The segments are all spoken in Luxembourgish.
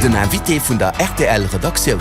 Den Invité vun der RTL-Redaktioun.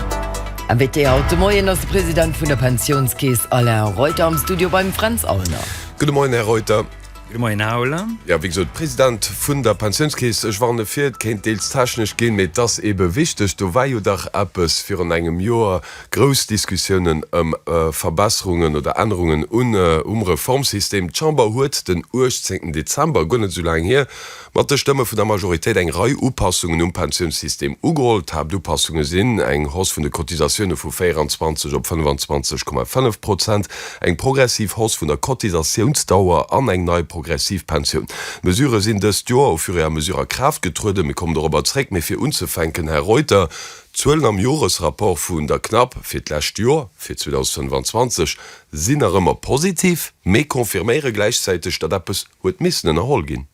Invité haut de Moien ass de President vun der Pensiounskeess Alain Reuter am Studio beim Fränz Aulner. Gudde Moien, Här Reuter. Gudde Moien, Här Aulner. Jo, wéi gesot, President vun der Pensiounskeess. Ech warne vir, et kéint deels technesch ginn, mee et ass eebe wichteg. Do war jo dach eppes virun engem Joer, grouss Diskussiounen ëm Verbesserungen oder Ännerungen um Reformsystem. D'Chamber huet den 18 Dezember, guer net esou laang hier, Mat de Stëmme vun der Majoritéit eng Rei Upassungen um Pensiounssystem ugeholl. D'Haaptupassunge sinn, eng Hausse vun de Cotisatioune vu 24 op 25,5 Prozent, eng progressiv Hausse vun der Cotisatiounsdauer an eng nei progressiv Pensioun. D'Mesurë sinn dëst Joer au fur et à mesure a Kraaft getrueden. Mir kommen dorobber zréck. Mee fir unzefänken, Här Reuter, d'Zuelen am Joresrapport vun der CNAP fir d'lescht Joer, fir 2025, sinn nach ëmmer positiv, mee confirméiere gläichzäiteg, datt eppes, Huet missen ënnerholl ginn.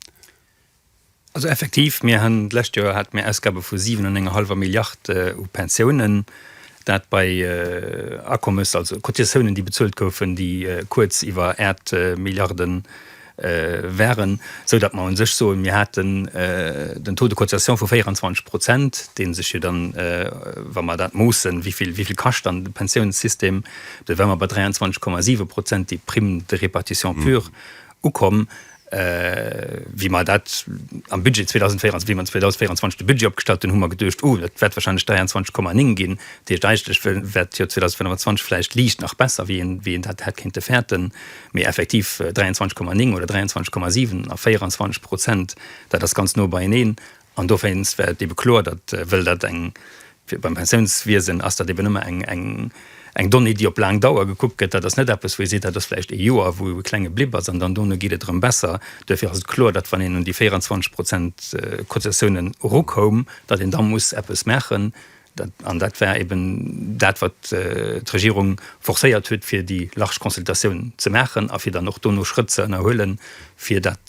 Also effektiv, mir hunn d'lescht Joer hate mir Ausgabe vu siwen an enger hallwer Milliard u Pensiounen, dat bei Akommes, also Cotisatiounen, déi bezuelt goufen, déi kuerz iwwer Äert Milliarde waren, esou datt mer u sech soen, mir haten den Taux de cotisation vu 24 Prozent, dee sech jo dann, wa mer dat moossen, wéi vill kascht dann de Pensiounssystem, da wäre mer bei 23,7 Prozent, déi Prime de répartition pure. ukomm, wéi mer dat am Budget 2024, wéi mer 2024 de Budget opgestallt hunn, hu mer geduecht, oh, dat wäert wahrscheinlech 23,9 ginn, dat heescht eigentlech wäert d'Joer 2025 vläicht liicht nach besser, wéi een dat hätt kéinte fäerten, mee effektiv 23,9 oder 23,7 a 24 Prozent, dat ass ganz no beieneen. An dowéinst wär et ebe kloer, datt, wëll dat eng, fir beim Pensiounswiesen ass dat eben ëmmer eng, eng, eng Donnée, déi op laang Dauer gekuckt gëtt. Dat ass net eppes, wou ee seet, dat ass vläicht ee Joer, wou ee kleng gebliwwen ass an dann dono geet et erëm besser. Duerfir ass et kloer, datt, wann een un déi 24 Prozent Cotisatiounen erukoum, datt een da muss eppes maachen. An dat war eben dat, wat d'Regierung forcéiert huet, fir déi large Consultatioun ze maachen a fir dann och dono Schrëtt ze ënnerhuelen, fir dat,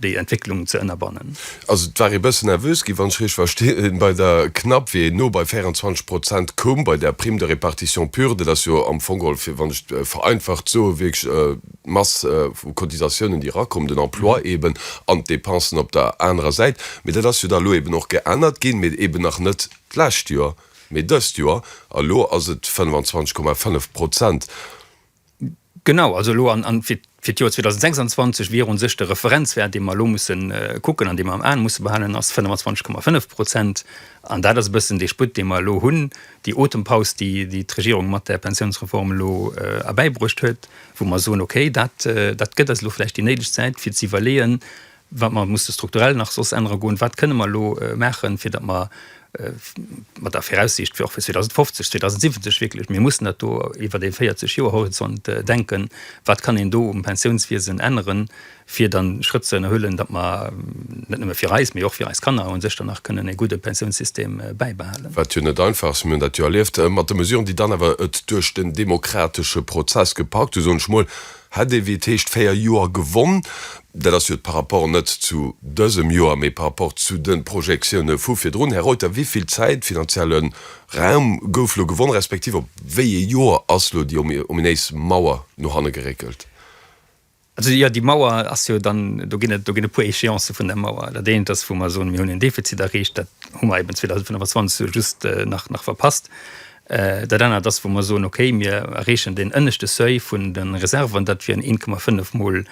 déi Entwécklung ze ënnerbannen. Also et war ee bëssen nervös gi wann ech richteg verstinn bei der CNAP, wéi een no bei 24 Prozent koum bei der Prime de répartition pure. Dat ass jo am Fong geholl, wann ech et vereinfacht soe, wierklech d'Mass vu Cotisatiounen, déi erakommen, den Emploi eeben an d'Depensen op der anerer Säit. Mee dat ass jo da elo eeben och geännert ginn, mee eeben nach net d'lescht Joer, mee dëst Joer. A elo ass et 25,5 Prozent. Genau, also elo an fir d'Joer 2026 wier u sech de Referenzwäert, dee mer elo musse kucken an dee mer am Aen musse behalen, ass 25,5 Prozent. An dat ass e bëssen dee Sputt, dee mer elo hunn, déi Otempaus, déi d'Regierung mat där Pensiounsreform elo erbäibruecht huet. wou mer soen, okay, dat gëtt eis elo vläicht déi néideg Zäit, fir ze iwwerleeën, wat mer musse strukturell nach soss ännere goen, wat kënne mer elo maachen, fir datt mer mat der Viraussiicht och fir 2050, 2070 wierklech, mir mussen dat do iwwert ee 40 Joer Horizont denken, wat kann een do um Pensiounswiesen änneren, fir dann Schrëtt ze ënnerhuelen, datt mer net nëmme fir eis, mee och fir eis Kanner un sech dann nach kënnen e gudde Pensiounssystem bäibehalen. Wat jo net einfach ass, mir hunn dat jo erlieft mat de Mesuren, déi dann awer et duerch den demokratesche Prozess gepackt hunn, soen ech mol, hätt ee wéi et heescht véier Joer gewonn. Dat ass jo par rapport net zu dësem Joer, mee par rapport zu de Projektiounen vu virdrun. Här Reuter, wéivill Zäit, finanzielle Raum gouf elo gewonn, respektiv op wéi ee Joer ass elo déi ominéis Mauer no hanne geréckelt? Also jo, déi Mauer ass jo dann, do ginn et, do ginn e puer Échéancë vun der Mauer. Dat eent ass, wou mer soen, mir hunn en Defizit erreecht, dat hu mer eben 2025 elo just nach, nach verpasst. Dat anert ass, wou mer soen, okay, mir erreechen deen ënneschte Seuil vun de Reserven, dat wieren 1,5 mol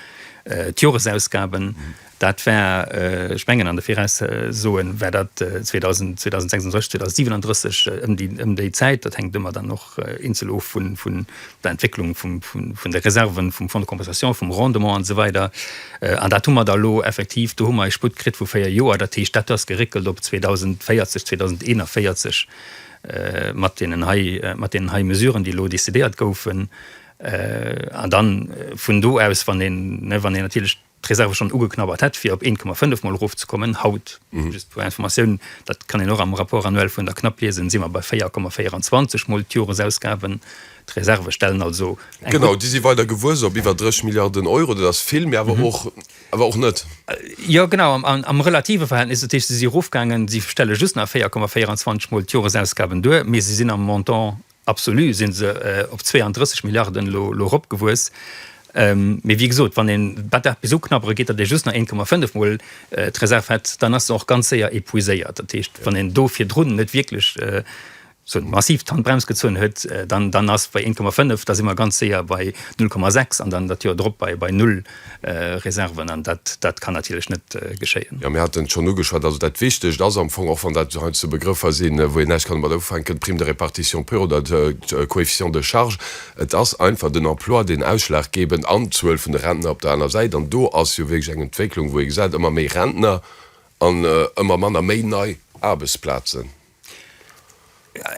d'Joresausgaben. Dat war, ech mengen, an de Viraussoen war dat 2026, 2037, ëm déi Zäit. Dat hänkt ëmmer dann och eenzel of vun der Entwécklung vun de Reserven, vum Fonds de compensation, vum Rendement an esou weider. An dat hu mer da elo effektiv, do hu mer e Sputt kritt vu véier Joer. Dat heescht, dat ass geréckelt op 2040, 2041 mat deenen hei, mat deenen hei Mesuren, déi elo décidéiert goufen. An da vun do aus, wann een, wann een natierlech, d'Reserve schonn ugeknabbert hätt, fir op 1,5 Mol erofzekommen. Haut, just zur Informatioun, dat kann een och am Rapport annuel vun der CNAP liesen, si mer bei 4,24 Mol d'Joresausgaben. D'Reserve stellen also eng gutt. Genau, déi si weider gewuess op iwwer 30 Milliarden Euro. Dat ass vill, mee awer och, awer och net. Jo, genau, am relative Verhältnis. Dat heescht, se si erofgaangen, si stelle just nach 4,24 Mol d'Joresausgaben duer, mee se sinn am Montant Absolu si se op 32 Milliarden elo eropgewuess. Mee wéi gesot, wann een dat bis uknabbere geet, datt ee just nach 1,5 Mol d'Reserv hätt, dann ass se och ganz séier epuiséiert. Dat heescht, wann een do virdrun net wierklech massiv d'Handbrems gezunn huet, dann ass bei 1,5, da si mer ganz séier bei 0,6 an dann dat Joer drop bei null. Reserven, an dat kann natierlech net geschéien. Jo, mir haten et schonn ugeschwat. Also dat Wichtegt ass am Fong, och wann dat heiansdo Begrëffer sinn, wou een näischt kann domat ufänken, d'Prime de répartition pure oder de Coefficient de charge, et ass einfach den Emploi, deen ausschlaggebend, an d'Zuel vun de Rentner op der aner Säit. An do ass jo wierklech eng Entwécklung, wou ee gesäit, ëmmer méi Rentner an ëmmer manner méi nei Aarbechtsplazen.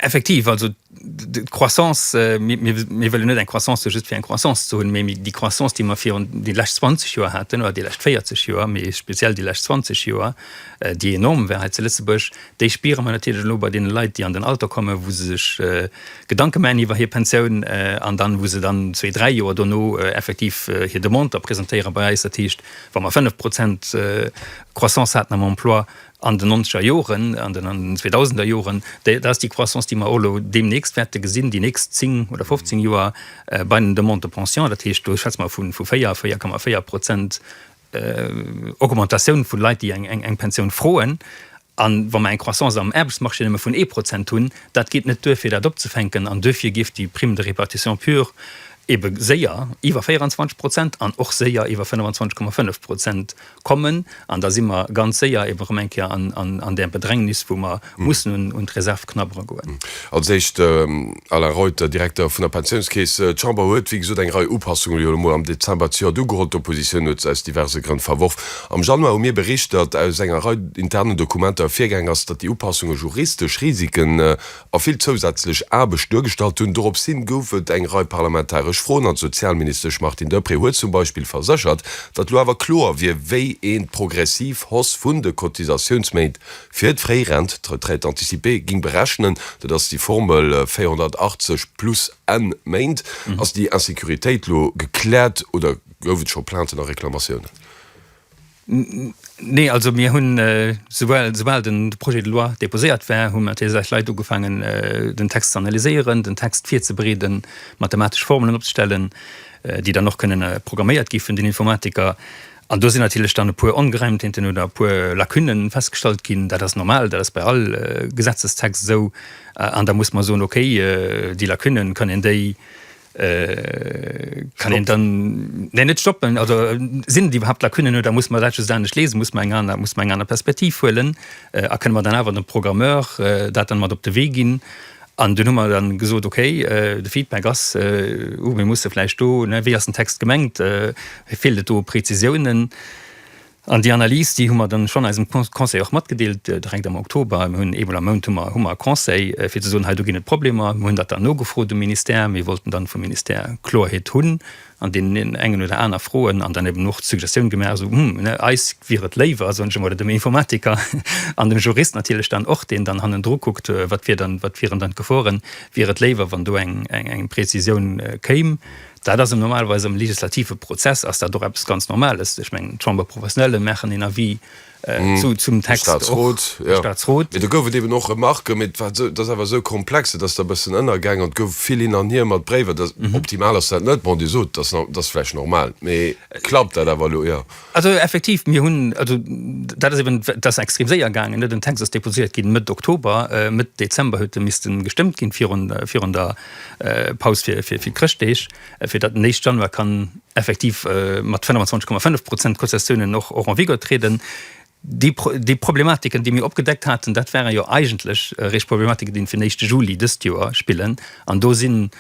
Effektiv, also d'Croissance, mir wëllen net eng Croissance just fir eng Croissance ze hunn, mee déi Croissance, déi mer virun déi lescht 20 Joer haten oder déi lescht 40 Joer, mee speziell déi lescht 20 Joer, déi enorm war hei zu Lëtzebuerg, déi spiere mer natierlech elo bei deene Leit, déi an den Alter kommen, wou se sech Gedanke maachen iwwer hir Pensioun an dann, wou se dann zwee, dräi Joer dono effektiv hir Demande da presentéiere bei eis. Dat heescht, wa mer 5 Prozent Croissance haten am Emploi, an den nonzeger Joren, an den an den zweedausender Joren, déi, dat ass déi Croissance, déi mer och elo deemnächst wäerte gesinn, déi nächst zéng oder fofzéng Joer bei den Demandes de pension, dat heescht, do schwätze mer vu véier, véier Komma véier Prozent Augmentatioun vun Leit, déi eng, eng, eng Pensioun froen. An wa mer eng Croissance am Aarbechtsmarché nëmme vun ee Prozent hunn, dat geet net duer, fir dat opzefänken. An duerfir géif déi Prime de répartition pure ebe séier iwwer 24 Prozent an och séier iwwer 25,5 Prozent kommen, an da si mer ganz séier eben erëm eng Kéier an där Bedrängnis, wou mer mussen un d'Reserv knabbere goen. Als éischt Alain Reuter, Direkter vun der Pensiounskeess. D'Chamber huet, wéi gesot, eng Rei Upassungen elo emol am Dezember zejoert ugeholl. D'Oppositioun huet se aus diverse Grënn verworf. Am Januar hu mir bericht, datt aus enger Rei internen Dokumenter ervirgaangen ass, datt déi Upassungen juristesch Risiken a vill zousätzlech Aarbecht duergestallt hunn. Dorops hin gouf et eng Rei parlamentaresch Froen an d'Sozialministesch Martine Deprez huet zum Beispill verséchert, datt lo awer kloer wier, wéi een d'progressiv Hausse vun de Cotisatiounsméint fir d'Fréirent, d'Retraite anticipée, ging berechnen. Dat ass déi Formel 480 plus n Méint. Ass déi Insecuritéit lo gekläert oder gouf et scho Plainten a Reklamatiounen? Nee, also mir hunn, souwuel soubal de Projet de loi déposéiert war, hu mat deene sechs Leit ugefaangen, den Text ze analyséieren, den Text virzebereeden, mathematesch Formelen opzestellen, déi dann och kënnen programméiert gi vun den Informatiker. An do sinn natierlech dann e puer Ongereimtheeten oder e puer Lacunne festgestallt ginn. Dat ass normal, dat ass bei all Gesetzestext esou. An da muss mer soen, okay, déi Lacunne, kann een déi Kann een dann ne net stoppen also sinn déi überhaupt la kënnen no da muss man dat dann net lesen muss man eng aner muss man eng aner Perspektiv huelen a kënne man dann awer dem Programmeur dat dann mat op de Wee ginn an den Hummer dann gesot okay de Feedback ass uh mir musse vläicht do ne wéi ass den Text gemengt feelt et do Präzisiounen. An déi Analys, déi hu mer dann schonn eisem Conseil och matgedeelt, direkt am Oktober. Mir hunn eemol am Mount hu mer hu mer e Conseil, fir ze soen, hei do ginn et Problemer. Mir hunn dat dann nogefrot um Ministère. Mir wollten dann vum Ministère Kloerheet hunn an deenen engen oder aner Froen an dann eben och d'Suggestioun gemaach, esou, Hm, ne, eis wier et léiwer, soen ech emol, oder dem Informatiker an dem Jurist natierlech dann och, deen dann hannendru kuckt, wat wier dann, wat wieren dann d'Geforen, wier et léiwer, wann do eng, eng, eng Prezisioun kéim. Dat ass normalerweis am legislative Prozess ass dat och eppes ganz Normales. Ech mengen, d'Chambre professionelle maachen een Avis zum Text, de Staatsrot, de Staatsrot. Mee do gouf et eben och Remarquen, mee dat ass awer esou komplex, dat ass da e bëssen ënnergaangen an et gouf vill hin an hier mat Bréiwer. Optimal ass dat net, bon, Dir sot, dat ass vläicht normal, mee klappt dat awer elo eher? Also effektiv, mir hunn, also dat ass eben, dat ass extrem séier gaangen. Den Text ass deposiert ginn Mëtt Oktober, Mëtt Dezember huet e misste gestëmmt ginn virun der Paus fir d'Chrëschtdeeg, fir datt den éischt Januar kann effektiv mat 25,5 Prozent Cotisatiounen och en vigueur trieden. Déi Problematiken, déi mir opgedeckt haten, dat ware jo eigentlech eréischt Problematiken, déi fir den éischte Juli dëst Joer spillen. An do sinn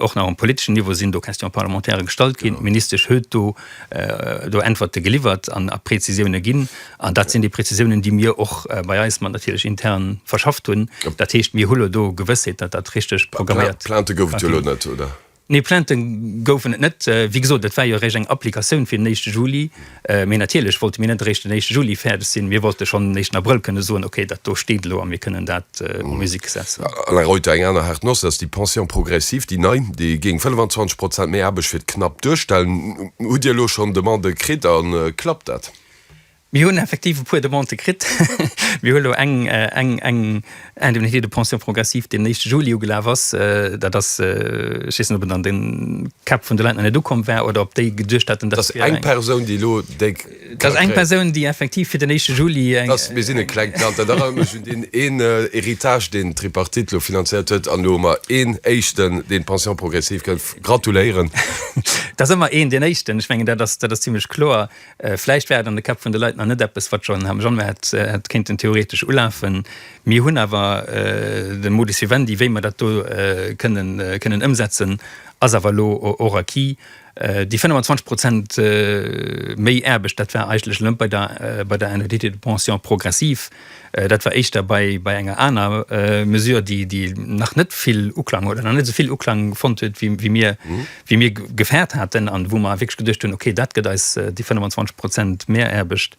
och nach um politeschen Niveau sinn do Questions parlementaires gestallt ginn. D'Ministesch huet do Äntwerte geliwwert a Prezisiounen ginn. An dat sinn déi Prezisiounen, déi mir och bei eis mat natierlech intern verschafft hunn. Dat heescht, mir hu lo do Gewëssheet, datt dat richteg programméiert ginn. Plaintë gouf et jo elo net, oder? Nee, Plaintë goufen et net. Wéi gesot, et war jo eréischt eng Applikatioun fir den éischte Juli. Mee natierlech wollte mir net eréischt den éischte Juli fäerdeg sinn. Mir wollte schonn den éischten Abrëll kënne soen, okay, dat do steet elo a mir kënnen dat en musique setzen. Alain Reuter, Eng aner haart Noss ass déi Pension progressive, déi nei. Déi géing 25 Prozent méi Aarbecht fir d'Knap duerstellen. Hutt Dir elo schonn Demandë kritt a klappt dat? Mir hunn effektiv e puer Demandë kritt. Mir hu lo eng eng Indemnité de pension progressive, déi am éischte Juli ugelaf ass. Dat ass, ech weess net, ob et an de Käpp vun de Leit nach net ukomm war oder ob déi geduecht haten, dass fir eng. Dat ass eng Persoun, déi lo déi ka kréien. Dat ass eng Persoun, déi effektiv fir den éischte Juli eng. Mir sinn e klengt Land. Dat erënnert mech un deen een Héritage, deen d'Tripartite lo finanziert huet. An elo hu mer een Éischten, deen d'Pension progressive kritt. Gratuléieren! Dat ass ëmmer een deen Éischten. Ech mengen, dat ass zimlech kloer. Vläicht war et an de Käpp vun de Leit nach net eppes, wat schonn am Januar hätt kéinten theoretesch ulafen. Mir hunn awer de Modus vivendi, wéi mer dat do kënnen ëmsetzen, ass awer elo och acquis. Déi 25 Prozent méi Aarbecht, dat war eigentlech elo net bei der Indemnité de pension progressive, Dat war éischter bei enger aner Mesure, déi nach net vill Uklang huet, oder nach net esou vill Uklang fonnt huet, wéi mir, wéi mir gefäert haten an wou mer wierklech geduecht hunn, okay, dat gëtt eis déi 25 Prozent Mehraarbecht,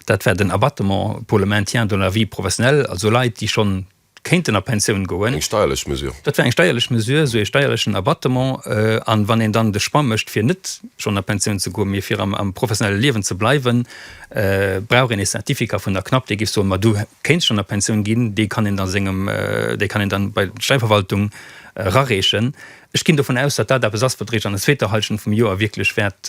dat war den Abattement pour le maintien dans la vie professionnelle, also Leit, déi schonn kéinten a Pensioun goen. Eng steierlech Mesure. Dat wär eng steierlech Mesure, esou ee steierlechen Abattement. A wann een dann de Choix mécht, fir net schonn a Pensioun ze goen, mee fir am professionelle Liewen ze bleiwen, brauch een ee Certificat vun der CNAP, dee géif soen, ma du kéints schonn a Pensioun ginn. Dee kann een da sengem, dee kann een dann bei d'Steiverwaltung erareechen. Ech ginn dovun aus, datt dat eppes ass, wat réischt an der zweeter Hallschent vum Joer wierklech wäert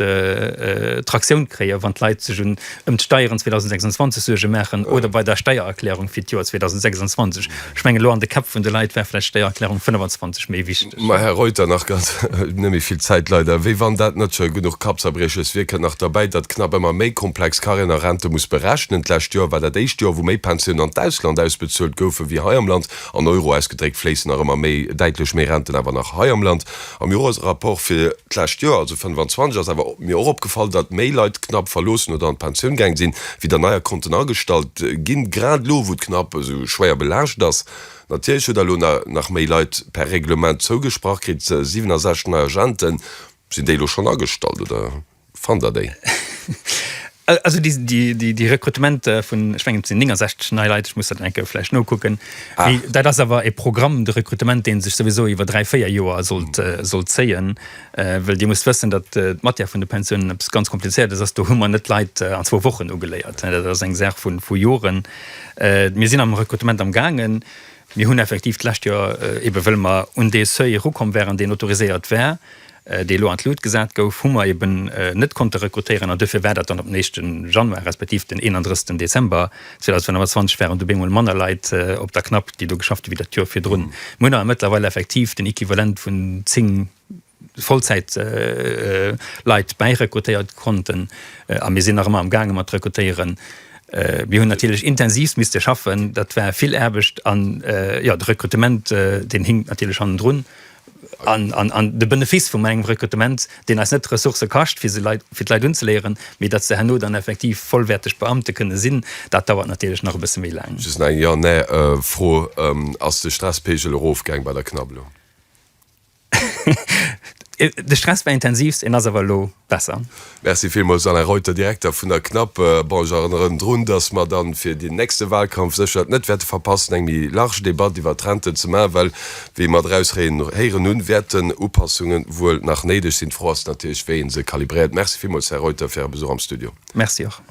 Traktioun kréien, wann d'Leit sech un ëm d'Steieren 2026 Suerge maachen oder bei der Steiererklärung fir d'Joer 2026. Ech mengen, elo an de Käpp vun de Leit war vläicht d'Steiererklärung 25 méi wichteg. Mä, Här Reuter, nach ganz, net méi vill Zäit leider, wéi wann dat net scho genuch Kappzerbrieches wier, kënnt nach derbäi, datt CNAP ëmmer méi komplex Carrièren a Rente muss berechnen. D'lescht Joer war dat éischt Joer, wou méi Pensionen an d'Ausland ausbezuelt goufen, wéi hei am Land. An Euro ausgedréckt fléissen nach ëmmer méi, däitlech méi Renten awer nach hei am Land. Am Joresrapport fir d'lescht Joer, also 25, ass awer mir och opgefall, datt méi Leit d'Knapp verloossen oder an d'Pensioun gaang sinn, wéi der neier Konten agestallt ginn. Grad elo, wou d'Knapp esou schwéier belaascht ass. Natierlech huet der elo nach méi Leit per Reglement zougesprach kritt, 67 nei Agenten. Sinn déi elo schonn agestallt, oder? Fannt der déi? Also déi Rekrutement vun, ech mengen et sinn 69 nei Leit, ech muss dat nach enke vläicht nokucken, mee dat ass awer e Programm de Rekrutement, dee sech souwisou iwwer dräi, véier Joer sollt zéien. Well Dir musst wëssen, datt d'Matière vun de Pensiounen eppes ganz Komplizéiertes ass. Do hu mer net Leit an zwou Wochen ugeléiert, dat ass eng Saach vu Joren. Mir sinn am Rekrutement am gaangen. Mir hunn effektiv d'lescht Joer, ebe wëll mer un dee Seuil erukomm waren, deen autoriséiert war, dee lo an d'Lut gesat gouf, hu mer eben net konnte rekrutéieren an duerfir war dat dann op den éischte Januar respektiv den 31 Dezember 2025 waren dobee mol manner Leit op der CNAP, déi do geschafft hu wéi dat Joer virdrun. Mir hunn awer mëttlerweil effektiv den Equivalent vun zéng Vollzäitleit bäirekrutéiert konnten a mir sinn nach ëmmer amgaange mat rekrutéieren. Mir hunn natierlech intensivst misste schaffen, dat war vill Aarbecht an jo de Rekrutement deen hinkt natierlech hannendrun. An de Benefiss vum engem Rekrutement, deen eis net Ressourcë kascht, fir d'Leit unzeleeëren, mee datt se herno dann effektiv vollwäerteg Beamte kënne sinn, dat dauert natierlech nach e bësse méi laang. Just nach eng Jo-Nee-Fro, Ass de Stresspegel erofgaang bei der Knabbelo? De Stress war intensivst, en ass awer elo besser. Merci villmools Alain Reuter, Direkter vun der CNAP. Bon, ech erënneren drun, dass mer dann fir den nächste Wahlkampf sécher et net wäerte verpassen, eng méi large Debatt iwwert d'Renten ze maachen, well, wéi mer draus héieren hunn, wäerten Upassunge wuel nach néideg sinn. D'Fro ass natierlech, wéi ee se kalibréiert. Merci villmools, Här Reuter, fir Äre Besuch am Studio. Merci och.